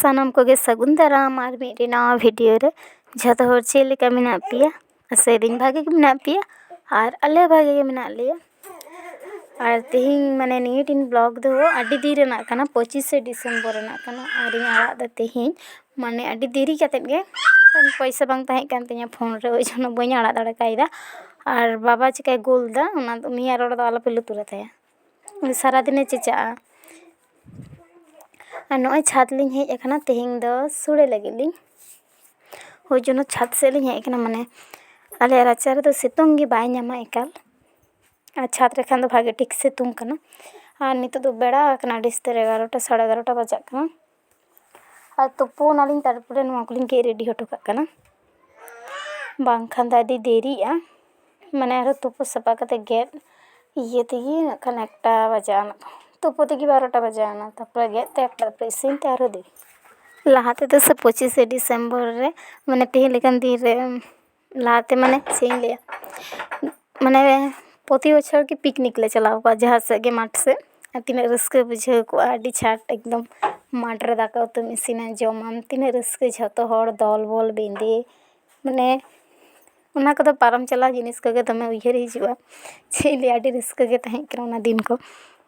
ᱥᱟᱱᱟᱢ ᱠᱚᱜᱮ ᱥᱟᱹᱜᱩᱱ ᱫᱟᱨᱟᱢ ᱟᱨ ᱢᱤᱫᱴᱮᱱ ᱱᱟᱣᱟ ᱵᱷᱤᱰᱤᱭᱳ ᱨᱮ ᱡᱷᱚᱛᱚ ᱦᱚᱲ ᱪᱮᱫ ᱞᱮᱠᱟ ᱢᱮᱱᱟᱜ ᱯᱮᱭᱟ ᱟᱥᱟᱭ ᱫᱟᱹᱧ ᱵᱷᱟᱜᱮ ᱜᱮ ᱢᱮᱱᱟᱜ ᱯᱮᱭᱟ ᱟᱨ ᱟᱞᱮ ᱦᱚᱸ ᱵᱷᱟᱜᱮ ᱜᱮ ᱢᱮᱱᱟᱜ ᱞᱮᱭᱟ ᱟᱨ ᱛᱮᱦᱮᱧ ᱢᱟᱱᱮ ᱱᱤᱭᱟᱹ ᱴᱤᱱ ᱵᱞᱚᱜᱽ ᱫᱚ ᱟᱹᱰᱤ ᱫᱤᱱ ᱨᱮᱱᱟᱜ ᱠᱟᱱᱟ ᱯᱚᱸᱪᱤᱥᱮ ᱰᱤᱥᱮᱢᱵᱚᱨ ᱨᱮᱱᱟᱜ ᱠᱟᱱᱟ ᱟᱨᱤᱧ ᱟᱲᱟᱜ ᱮᱫᱟ ᱛᱮᱦᱮᱧ ᱢᱟᱱᱮ ᱟᱹᱰᱤ ᱫᱮᱨᱤ ᱠᱟᱛᱮᱫ ᱜᱮ ᱯᱚᱭᱥᱟ ᱵᱟᱝ ᱛᱟᱦᱮᱸ ᱠᱟᱱ ᱛᱤᱧᱟᱹ ᱯᱷᱳᱱ ᱨᱮ ᱳᱭ ᱡᱚᱱᱱᱚ ᱵᱟᱹᱧ ᱟᱲᱟᱜ ᱫᱟᱲᱮ ᱠᱟᱣᱫᱟ ᱟᱨ ᱵᱟᱵᱟ ᱪᱤᱠᱟᱹᱭ ᱜᱳᱞ ᱮᱫᱟ ᱚᱱᱟ ᱩᱱᱤᱭᱟᱜ ᱨᱚᱲ ᱫᱚ ᱟᱞᱚᱯᱮ ᱞᱩᱛᱩᱨ ᱟᱛᱟᱭᱟ ᱩᱱᱤ ᱥᱟᱨᱟᱫᱤᱱᱮ ᱪᱮᱪᱟᱜᱼᱟ ᱟᱨ ᱱᱚᱜᱼᱚᱭ ᱪᱷᱟᱫᱽ ᱞᱤᱧ ᱦᱮᱡ ᱠᱟᱱᱟ ᱛᱮᱦᱮᱧ ᱫᱚ ᱥᱳᱲᱮ ᱞᱟᱹᱜᱤᱫ ᱞᱤᱧ ᱳᱭ ᱡᱚᱱᱱᱚ ᱪᱷᱟᱫᱽ ᱥᱮᱫ ᱞᱤᱧ ᱦᱮᱡ ᱠᱟᱱᱟ ᱢᱟᱱᱮ ᱟᱞᱮᱭᱟᱜ ᱨᱟᱪᱟ ᱨᱮᱫᱚ ᱥᱤᱛᱩᱝ ᱜᱮ ᱵᱟᱭ ᱧᱟᱢᱟ ᱮᱠᱟᱞ ᱟᱨ ᱪᱷᱟᱫᱽ ᱨᱮᱠᱷᱟᱱ ᱫᱚ ᱵᱷᱟᱜᱮ ᱴᱷᱤᱠ ᱥᱤᱛᱩᱝ ᱠᱟᱱᱟ ᱟᱨ ᱱᱤᱛᱚᱜ ᱫᱚ ᱵᱮᱲᱟ ᱟᱠᱟᱱᱟ ᱟᱹᱰᱤ ᱩᱥᱛᱟᱹᱨ ᱮᱜᱟᱨᱚᱴᱟ ᱥᱟᱲᱮ ᱮᱜᱟᱨᱚᱴᱟ ᱵᱟᱡᱟᱜ ᱠᱟᱱᱟ ᱟᱨ ᱛᱩᱯᱩᱱᱟᱞᱤᱧ ᱛᱟᱨᱯᱚᱨᱮ ᱱᱚᱣᱟ ᱠᱚᱞᱤᱧ ᱜᱮᱫ ᱨᱮᱰᱤ ᱦᱚᱴᱚ ᱠᱟᱜ ᱠᱟᱱᱟ ᱵᱟᱝᱠᱷᱟᱱ ᱫᱚ ᱟᱹᱰᱤ ᱫᱮᱨᱤᱜᱼᱟ ᱢᱟᱱᱮ ᱟᱨᱚ ᱛᱩᱯᱩ ᱥᱟᱯᱟ ᱠᱟᱛᱮ ᱜᱮᱫ ᱤᱭᱟᱹ ᱛᱮᱜᱮ ᱱᱟᱜ ᱠᱷᱟᱱ ᱮᱠᱴᱟ ᱵᱟᱡᱟᱣ ᱱᱟ ᱛᱩᱯᱩ ᱛᱮᱜᱮ ᱵᱟᱨᱚᱴᱟ ᱵᱟᱡᱟᱣ ᱱᱟ ᱛᱟᱨᱯᱚᱨᱮ ᱜᱮᱫ ᱛᱮ ᱮᱠᱴᱟ ᱛᱟᱨᱯᱚᱨᱮ ᱤᱥᱤᱱ ᱛᱮ ᱟᱨᱚ ᱫᱮᱨᱤ ᱞᱟᱦᱟ ᱛᱮᱫᱚ ᱥᱮ ᱯᱚᱸᱪᱤᱥᱮ ᱰᱤᱥᱮᱢᱵᱚᱨ ᱨᱮ ᱢᱟᱱᱮ ᱛᱮᱦᱮᱧ ᱞᱮᱠᱟᱱ ᱫᱤᱱ ᱨᱮ ᱞᱟᱦᱟᱛᱮ ᱢᱟᱱᱮ ᱪᱮᱫ ᱤᱧ ᱞᱟᱹᱭᱟ ᱢᱟᱱᱮ ᱯᱨᱚᱛᱤ ᱵᱚᱪᱷᱚᱨ ᱜᱮ ᱯᱤᱠᱱᱤᱠ ᱞᱮ ᱪᱟᱞᱟᱣ ᱠᱚᱜᱼᱟ ᱡᱟᱦᱟᱸ ᱥᱮᱫ ᱜᱮ ᱢᱟᱴᱷ ᱥᱮᱫ ᱟᱨ ᱛᱤᱱᱟᱹᱜ ᱨᱟᱹᱥᱠᱟᱹ ᱵᱩᱡᱷᱟᱹᱣ ᱠᱚᱜᱼᱟ ᱟᱹᱰᱤ ᱪᱷᱟᱴ ᱮᱠᱫᱚᱢ ᱢᱟᱴᱷ ᱨᱮ ᱫᱟᱠᱟ ᱩᱛᱩᱢ ᱤᱥᱤᱱᱟ ᱡᱚᱢᱟᱢ ᱛᱤᱱᱟᱹᱜ ᱨᱟᱹᱥᱠᱟᱹ ᱡᱷᱚᱛᱚ ᱦᱚᱲ ᱫᱚᱞ ᱵᱚᱞ ᱵᱮᱸᱫᱮ ᱢᱟᱱᱮ ᱚᱱᱟ ᱠᱚᱫᱚ ᱯᱟᱨᱚᱢ ᱪᱟᱞᱟᱣ ᱡᱤᱱᱤᱥ ᱠᱚᱜᱮ ᱫᱚᱢᱮ ᱩᱭᱦᱟᱹᱨ ᱦᱤᱡᱩᱜᱼᱟ ᱪᱮᱫ ᱤᱧ ᱞᱟᱹᱭᱟ ᱟᱹᱰᱤ ᱨᱟᱹᱥᱠᱟᱹ ᱜᱮ ᱛᱟᱦᱮᱸ ᱠᱟᱱᱟ ᱚᱱᱟ ᱫᱤᱱ ᱠᱚ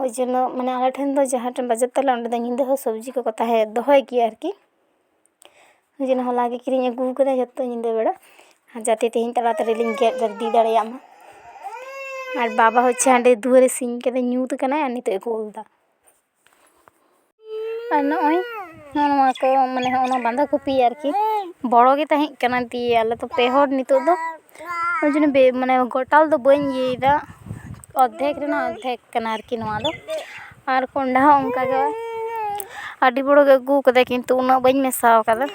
ᱳᱭ ᱡᱚᱱᱱᱚ ᱢᱟᱱᱮ ᱟᱞᱮ ᱴᱷᱮᱱ ᱫᱚ ᱡᱟᱦᱟᱸ ᱴᱷᱮᱱ ᱵᱟᱡᱟᱨ ᱛᱟᱞᱮ ᱚᱸᱰᱮ ᱫᱚ ᱧᱤᱫᱟᱹ ᱦᱚᱸ ᱥᱚᱵᱡᱤ ᱠᱚᱠᱚ ᱛᱟᱦᱮᱸ ᱫᱚᱦᱚᱭ ᱜᱮᱭᱟ ᱟᱨᱠᱤ ᱳᱭ ᱡᱚᱱᱱᱚ ᱦᱚᱞᱟ ᱜᱮ ᱠᱤᱨᱤᱧ ᱟᱹᱜᱩ ᱠᱟᱫᱟᱭ ᱡᱚᱛᱚ ᱧᱤᱫᱟᱹ ᱵᱮᱲᱟ ᱡᱟᱛᱮ ᱛᱮᱦᱮᱧ ᱛᱟᱲᱟ ᱛᱟᱲᱤ ᱞᱤᱧ ᱜᱮᱫ ᱵᱷᱮᱨᱫᱤ ᱫᱟᱲᱮᱭᱟᱜ ᱢᱟ ᱟᱨ ᱵᱟᱵᱟ ᱦᱚᱪᱪᱷᱮ ᱦᱟᱸᱰᱮ ᱫᱩᱣᱟᱹᱨᱮ ᱥᱤᱧ ᱠᱟᱫᱟᱭ ᱧᱩᱛ ᱠᱟᱱᱟᱭ ᱟᱨ ᱱᱤᱛᱚᱜ ᱮ ᱠᱳᱞ ᱫᱟ ᱟᱨ ᱱᱚᱜᱼᱚᱭ ᱱᱚᱜᱼᱚ ᱱᱚᱣᱟ ᱠᱚ ᱢᱟᱱᱮ ᱦᱚᱸᱜᱼᱚ ᱱᱚᱣᱟ ᱵᱟᱸᱫᱷᱟ ᱠᱚᱯᱤ ᱟᱨᱠᱤ ᱵᱚᱲᱚ ᱜᱮ ᱛᱟᱦᱮᱸᱜ ᱠᱟᱱᱟ ᱫᱤᱭᱮ ᱟᱞᱮ ᱫᱚ ᱯᱮ ᱦᱚᱲ ᱱᱤᱛᱚᱜ ᱫᱚ ᱚᱱᱟ ᱡᱚᱱᱱᱚ ᱵᱮ ᱢᱟᱱᱮ ᱜᱚᱴᱟ ᱫᱚ ᱵᱟᱹᱧ ᱤᱭᱟᱹᱭᱫᱟ ᱚᱨᱫᱷᱮᱠ ᱨᱮᱱᱟᱜ ᱚᱨᱫᱷᱮᱠ ᱠᱟᱱᱟ ᱟᱨᱠᱤ ᱱᱚᱣᱟ ᱫᱚ ᱟᱨ ᱠᱚᱱᱰᱷᱟ ᱦᱚᱸ ᱚᱱᱠᱟ ᱜᱮ ᱟᱹᱰᱤ ᱵᱚᱲᱚ ᱜᱮ ᱟᱹᱜᱩᱣ ᱠᱟᱫᱟᱭ ᱠᱤᱱᱛᱩ ᱩᱱᱟᱹᱜ ᱵᱟᱹᱧ ᱢᱮᱥᱟᱣ ᱠᱟᱫᱟ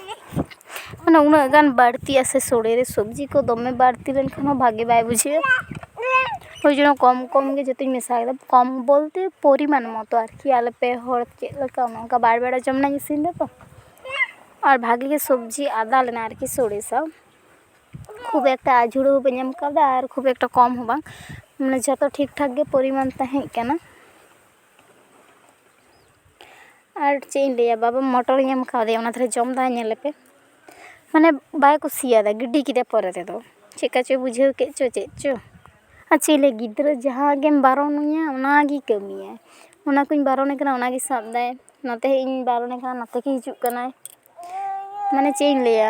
ᱢᱟᱱᱮ ᱩᱱᱟᱹᱜ ᱜᱟᱱ ᱵᱟᱹᱲᱛᱤᱜᱼᱟ ᱥᱮ ᱥᱚᱲᱮ ᱨᱮ ᱥᱚᱵᱡᱤ ᱠᱚ ᱫᱚᱢᱮ ᱵᱟᱹᱲᱛᱤ ᱞᱮᱱᱠᱷᱟᱱ ᱦᱚᱸ ᱵᱷᱟᱜᱮ ᱵᱟᱭ ᱵᱩᱡᱷᱟᱹᱜᱼᱟ ᱳᱭ ᱡᱮᱱᱚ ᱠᱚᱢ ᱠᱚᱢ ᱜᱮ ᱡᱚᱛᱚᱧ ᱢᱮᱥᱟ ᱠᱮᱫᱟ ᱠᱚᱢ ᱵᱚᱞᱛᱮ ᱯᱚᱨᱤᱢᱟᱱ ᱢᱚᱛᱚ ᱟᱨᱠᱤ ᱟᱞᱮ ᱯᱮ ᱦᱚᱲ ᱪᱮᱫ ᱞᱮᱠᱟ ᱚᱱᱮ ᱚᱱᱠᱟ ᱵᱟᱨ ᱵᱮᱲᱟ ᱡᱚᱢ ᱨᱮᱱᱟᱜ ᱤᱧ ᱤᱥᱤᱱ ᱮᱫᱟ ᱛᱚ ᱟᱨ ᱵᱷᱟᱜᱮ ᱜᱮ ᱥᱚᱵᱡᱤ ᱟᱫᱟ ᱞᱮᱱᱟ ᱟᱨᱠᱤ ᱥᱳᱲᱮ ᱥᱟᱶ ᱠᱷᱩᱵ ᱮᱠᱴᱟ ᱟᱹᱡᱷᱩᱲᱟᱹ ᱦᱚᱸ ᱵᱟᱹᱧ ᱮᱢ ᱠᱟᱣᱫᱟ ᱟᱨ ᱠᱷᱩᱵ ᱮᱠᱴᱟ ᱠᱚᱢ ᱦᱚᱸ ᱵᱟᱝ ᱢᱟᱱᱮ ᱡᱚᱛᱚ ᱴᱷᱤᱠ ᱴᱷᱟᱠ ᱜᱮ ᱯᱚᱨᱤᱢᱟᱱ ᱛᱟᱦᱮᱸ ᱠᱟᱱᱟ ᱟᱨ ᱪᱮᱫ ᱤᱧ ᱞᱟᱹᱭᱟ ᱵᱟᱵᱟ ᱢᱚᱴᱚᱨᱤᱧ ᱮᱢ ᱠᱟᱣᱫᱮᱭᱟ ᱚᱱᱟ ᱛᱟᱦᱞᱮ ᱡᱚᱢ ᱫᱟᱭ ᱧᱮᱞᱮ ᱯᱮ ᱢᱟᱱᱮ ᱵᱟᱭ ᱠᱩᱥᱤᱭᱟᱫᱟ ᱜᱤᱰᱤ ᱠᱮᱫᱟᱭ ᱯᱚᱨᱮ ᱛᱮᱫᱚ ᱪᱮᱫ ᱠᱟ ᱪᱚᱭ ᱵᱩᱡᱷᱟᱹᱣ ᱠᱮᱫ ᱪᱚ ᱪᱮᱫ ᱪᱚ ᱟᱨ ᱪᱮᱫ ᱤᱧ ᱞᱟᱹᱭᱟ ᱜᱤᱫᱽᱨᱟᱹ ᱡᱟᱦᱟᱸ ᱜᱮᱢ ᱵᱟᱨᱚᱱᱮᱭᱟ ᱚᱱᱟ ᱜᱮᱭ ᱠᱟᱹᱢᱤᱭᱟ ᱚᱱᱟ ᱠᱚᱧ ᱵᱟᱨᱚᱱᱮ ᱠᱟᱱᱟ ᱚᱱᱟ ᱜᱮᱭ ᱥᱟᱵ ᱫᱟᱭ ᱱᱚᱛᱮ ᱦᱮᱡ ᱤᱧ ᱵᱟᱨᱚᱱᱮ ᱠᱟᱱᱟ ᱱᱚᱛᱮ ᱜᱮᱭ ᱦᱤᱡᱩᱜ ᱠᱟᱱᱟᱭ ᱢᱟᱱᱮ ᱪᱮᱫ ᱤᱧ ᱞᱟᱹᱭᱟ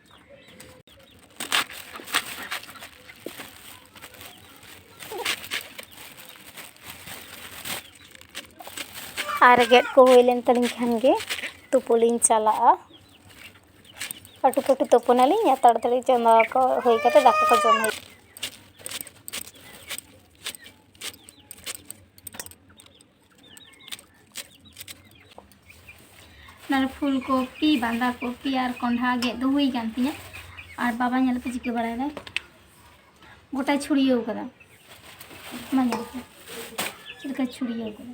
ᱟᱨ ᱜᱮᱫ ᱠᱚ ᱦᱩᱭ ᱞᱮᱱ ᱛᱟᱹᱞᱤᱧ ᱠᱷᱟᱱ ᱜᱮ ᱛᱩᱯᱩ ᱞᱤᱧ ᱪᱟᱞᱟᱜᱼᱟ ᱯᱟᱹᱴᱩ ᱯᱟᱹᱴᱩ ᱛᱩᱯᱩᱱᱟᱞᱤᱧ ᱟᱨ ᱛᱟᱲᱟᱛᱟᱹᱲᱤ ᱪᱚᱸᱫᱟ ᱠᱚ ᱦᱩᱭ ᱠᱟᱛᱮ ᱫᱟᱠᱟ ᱠᱚ ᱡᱚᱢ ᱦᱩᱭᱩᱜᱼᱟ ᱱᱟᱨ ᱯᱷᱩᱞ ᱠᱚᱯᱤ ᱵᱟᱸᱫᱟ ᱠᱚᱯᱤ ᱟᱨ ᱠᱚᱸᱰᱷᱟ ᱜᱮᱫ ᱫᱚ ᱦᱩᱭ ᱠᱟᱱ ᱛᱤᱧᱟ ᱟᱨ ᱵᱟᱵᱟ ᱧᱮᱞ ᱯᱮ ᱪᱤᱠᱟᱹ ᱵᱟᱲᱟᱭ ᱫᱟᱭ ᱜᱚᱴᱟᱭ ᱪᱷᱩᱲᱤᱭᱟᱹᱣ ᱠᱟᱫᱟ ᱢᱟ ᱧᱮᱞ ᱯᱮ ᱪᱮᱫ ᱞᱮᱠᱟ ᱪᱷᱩᱲᱤᱭᱟᱹᱣ ᱠᱟᱫᱟ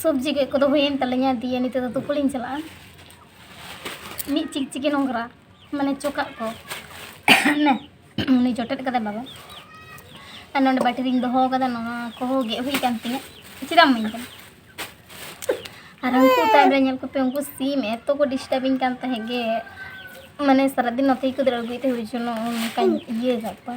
ᱥᱚᱵᱽᱡᱤ ᱜᱮᱫ ᱠᱚᱫᱚ ᱦᱩᱭᱮᱱ ᱛᱟᱞᱤᱧᱟ ᱫᱤᱭᱮ ᱱᱤᱛᱚᱜ ᱫᱚ ᱛᱩᱯᱩ ᱞᱤᱧ ᱪᱟᱞᱟᱜᱼᱟ ᱢᱤᱫ ᱪᱤᱠ ᱪᱤᱠᱤ ᱱᱚᱝᱨᱟ ᱢᱟᱱᱮ ᱪᱚᱠᱟᱜ ᱠᱚ ᱱᱮ ᱩᱱᱤ ᱡᱚᱴᱮᱫ ᱠᱟᱫᱟᱭ ᱵᱟᱵᱟ ᱟᱨ ᱱᱚᱰᱮ ᱵᱟᱹᱴᱤ ᱨᱤᱧ ᱫᱚᱦᱚ ᱠᱟᱫᱟ ᱱᱚᱣᱟ ᱠᱚᱦᱚᱸ ᱜᱮᱫ ᱦᱩᱭ ᱠᱟᱱ ᱛᱤᱧᱟᱹ ᱪᱮᱫᱟᱜ ᱤᱢᱟᱹᱧ ᱠᱟᱱᱟ ᱟᱨ ᱩᱱᱠᱩ ᱛᱟᱭᱚᱢ ᱨᱮ ᱧᱮᱞ ᱠᱚᱯᱮ ᱩᱱᱠᱩ ᱥᱤᱢ ᱮᱛᱚ ᱠᱚ ᱰᱤᱥᱴᱟᱵᱤᱧ ᱠᱟᱱ ᱛᱟᱦᱮᱸᱫ ᱜᱮ ᱢᱟᱱᱮ ᱥᱟᱨᱟᱫᱤᱱ ᱱᱚᱛᱮ ᱜᱮᱠᱚ ᱫᱟᱹᱲ ᱟᱹᱜᱩᱭᱮᱫ ᱛᱟᱦᱮᱸᱫ ᱦᱩᱭ ᱡᱚᱱᱚ ᱚᱱᱠᱟᱧ ᱤᱭᱟᱹ ᱠᱟᱜ ᱠᱚᱣᱟ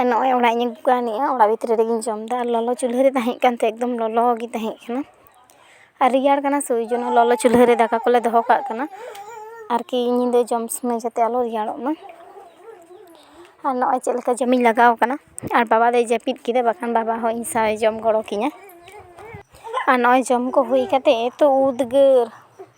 ᱟᱨ ᱱᱚᱜᱼᱚᱭ ᱚᱲᱟᱜ ᱤᱧ ᱟᱹᱜᱩ ᱠᱟᱣᱱᱤᱜᱼᱟ ᱟᱨ ᱚᱲᱟᱜ ᱵᱷᱤᱛᱨᱤ ᱨᱮᱜᱤᱧ ᱡᱚᱢᱫᱟ ᱟᱨ ᱞᱚᱞᱚ ᱪᱩᱞᱦᱟᱹ ᱨᱮ ᱛᱟᱦᱮᱸ ᱠᱟᱱᱛᱮ ᱮᱠᱫᱚᱢ ᱞᱚᱞᱚ ᱜᱮ ᱛᱟᱦᱮᱸ ᱠᱟᱱᱟ ᱟᱨ ᱨᱮᱭᱟᱲ ᱠᱟᱱᱟ ᱥᱮ ᱳᱭ ᱡᱚᱱᱱᱚ ᱞᱚᱞᱚ ᱪᱩᱞᱦᱟᱹ ᱨᱮ ᱫᱟᱠᱟ ᱠᱚᱞᱮ ᱫᱚᱦᱚ ᱠᱟᱜ ᱠᱟᱱᱟ ᱟᱨᱠᱤ ᱧᱤᱫᱟᱹ ᱡᱚᱢ ᱥᱚᱢᱚᱭ ᱡᱟᱛᱮ ᱟᱞᱚ ᱨᱮᱭᱟᱲᱚᱜ ᱢᱟ ᱟᱨ ᱱᱚᱜᱼᱚᱭ ᱪᱮᱫ ᱞᱮᱠᱟ ᱡᱚᱢᱤᱧ ᱞᱟᱜᱟᱣ ᱠᱟᱱᱟ ᱟᱨ ᱵᱟᱵᱟ ᱫᱚᱭ ᱡᱟᱹᱯᱤᱫ ᱠᱮᱫᱟ ᱵᱟᱠᱷᱟᱱ ᱵᱟᱵᱟ ᱦᱚᱸ ᱤᱧ ᱥᱟᱶᱮ ᱡᱚᱢ ᱜᱚᱲᱚ ᱠᱤᱧᱟᱹ ᱟᱨ ᱱᱚᱜᱼᱚᱭ ᱡᱚᱢ ᱠᱚ ᱦᱩᱭ ᱠᱟᱛᱮ ᱮᱛᱚ ᱩᱫᱽᱜᱟᱹᱨ